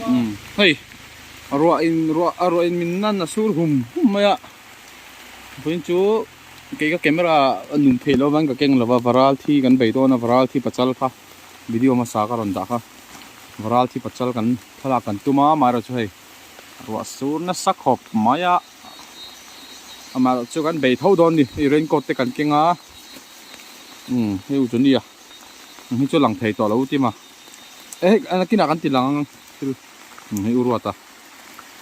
umm hei a ruah in ruah a ruah in min nan a sur hum hum mai a pahin chu kei ka camera a nung theih loh avangin ka keng lova varal thi kan bei dawn a varal thi pachal kha video hmasa ka rawn dah kha varal thi pachal kan thlalak kan tum a mah erawh chu hei a ruah sur nasa khawp mai a amah erawh chu kan bei tho dawn a ni hei rain coat te kan keng a umm hei uzunia eng hi chu a lang thei tawh lo tima. eh an a kinah kan ti lang ang thil hm hei u ruata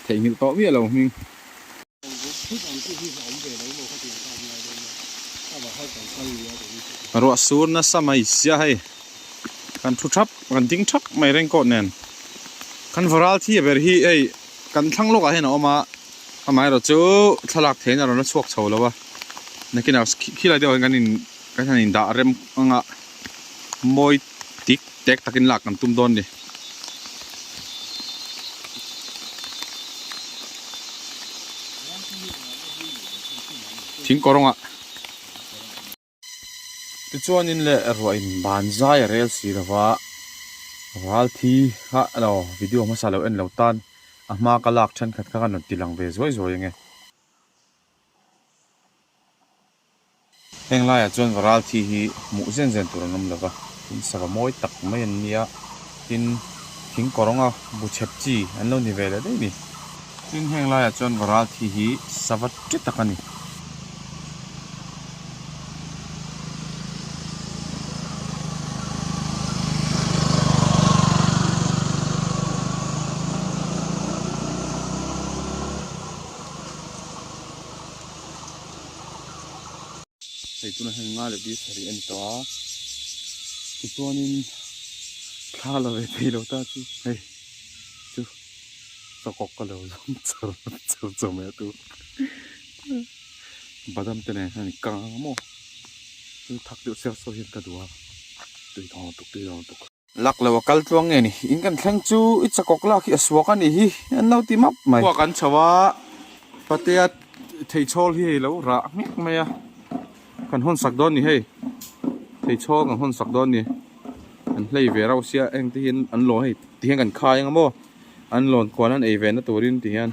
theihnghilh tawh miah lo hming ruah sur nasa mai sia hei kan thu thap kan ding thap mai reng kawt nen kan varal thi ber hi hei kan thlang lawkah hian a awm a amaherawh chu thlalak theihin a rawn la chhuak chho lo a nakinah khi lai deuh ah hian kan in kan han indah rem ang a mawi-- Tik tek takin lak kan tum dawn ni. Thing kawrawngah. Tichuanin le ruah in banzai a rel si lova ralthi kha lo video hmasa lo en lo tan a hma ka lak thenkhat kha ka rawn tilang ve zuai zuai ang e. Heng laiah chuan va ral thi hi hmuh zen zen tur an awm lova, tin sava mawi tak mai an ni a, tin thing kawrawnga bu chhep chi an lo ni ve leh daih ni. Tin heng laiah chuan va ral thi hi sava ṭi tak a ni. Hei tuna hian nga leh beef pahnih a ni tawh a, tichuanin thla la ve thei lo ta chu hei chu chawkawk ka lo zawng char char chawh mai a tu badam te nen hian a kang ang ang maw chu thak deuh siar sawi hian ka duh a tui thawng tuk tui thawng tuk. Lak lo a kal tluang nge ni? In kan thleng chu i chakawk lak hi a suak a ni hi, an lo ti map mai. Khua kan chho a, Patea theichhawl hi hei lo rah ngek mai a, kan hawn sak dawn ni hei, theichhawl kan hawn sak dawn ni, an hlei ve rau sia, engte hian an lawn hei ti hian kan khai anga maw, an lawn kuan an ei ve na turin ti hian.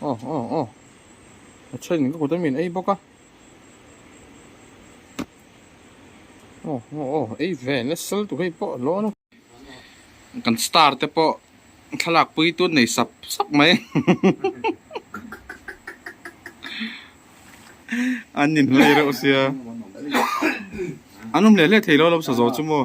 Aw aw aw. A then ka kut a min ei bawk a. Aw aw aw ei ve na sal tu hei pawh lawn a. Kan star te pawh thlalak pui tun nei sap sap mai. An ni hlei reuh sia. An awm leh leh thei lo lam sa zo chu maw.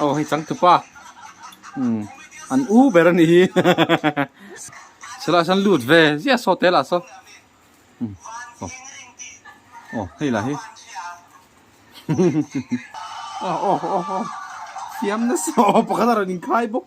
aw hei chang tupa umm an u ber a ni hi selasan lut ve ziah saw te lah saw umm aw aw hei lah hi aw aw aw aw thiam nasa aw pakhat a rawn inkhai bawk.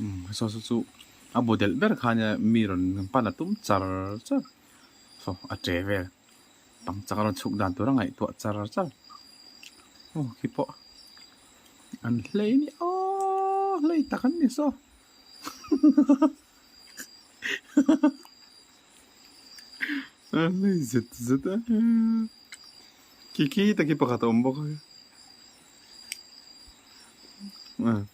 Umm saw saw chu a bu delh ber khan nia mi rawn pan a tum char char saw a che vel tang chak a rawn chhuk dan tur a ngaihtuah char char aw khi pawh an hlei ni aww hlei tak an ni saw a hlei zet zet a khi khi tak hi pakhat a awm bawk a.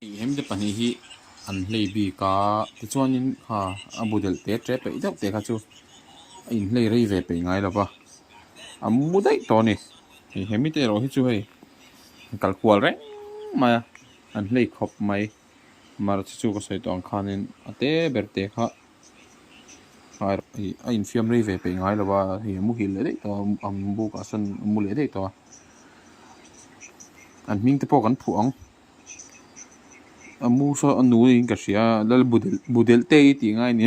Engemaw te pahnih hi an hlei bik a, tichuanin kha a bu delh te che peih deuh te kha chu a in hlei rei ve peih ngai lo va, a mu daih tawh a ni, engemaw te erawh hi chu hei an kalkual reng mai a, an hlei khawp mai. March chu ka sawi tawh ang khanin a te ber te kha ngai rawh hei a infiam rei ve peih ngai lova hei a mu hil leh daih tawh a ang buk ah sawn a mu leh daih tawh a an hming te pawh kan phuh ang a mu saw a nu niin ka hria lal budel budel te i tih ngai ni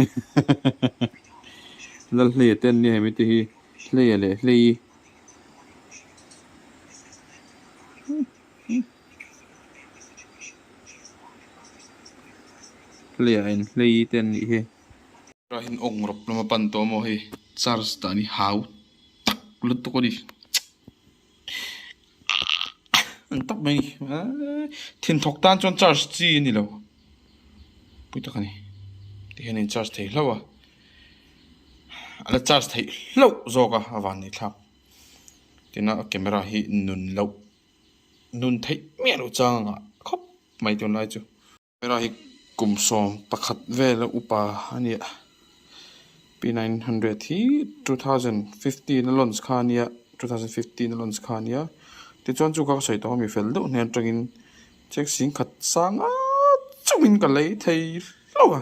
lal hlei a ten nia hemi te hi hlei a leh hlei i Hlei in hlei te an nih hi. Tlai in awng rawp lama pan tawh maw hei. Charge dah ni hau tak lutuk a ni. Ang tak mai ni thin thawk tan chuan charge chi a ni lo. Pui tak a ni. Ti hian in charge thei hlauh a. A la charge thei hlauh zawk a a van neih thlak. Tina a camera hi nun loh nun theih miah loh chang ang a khawp mai tun lai chu. Camera hi kum sawm pakhat vel a upa a ni a P nine hundred hi two thousand fifteen a launch kha a nia two thousand fifteen a launch kha a nia tichuan chu ka sawi tawh a mi fel deuh hnen atangin check sing khat sang a chungin ka lei thei hlauh a.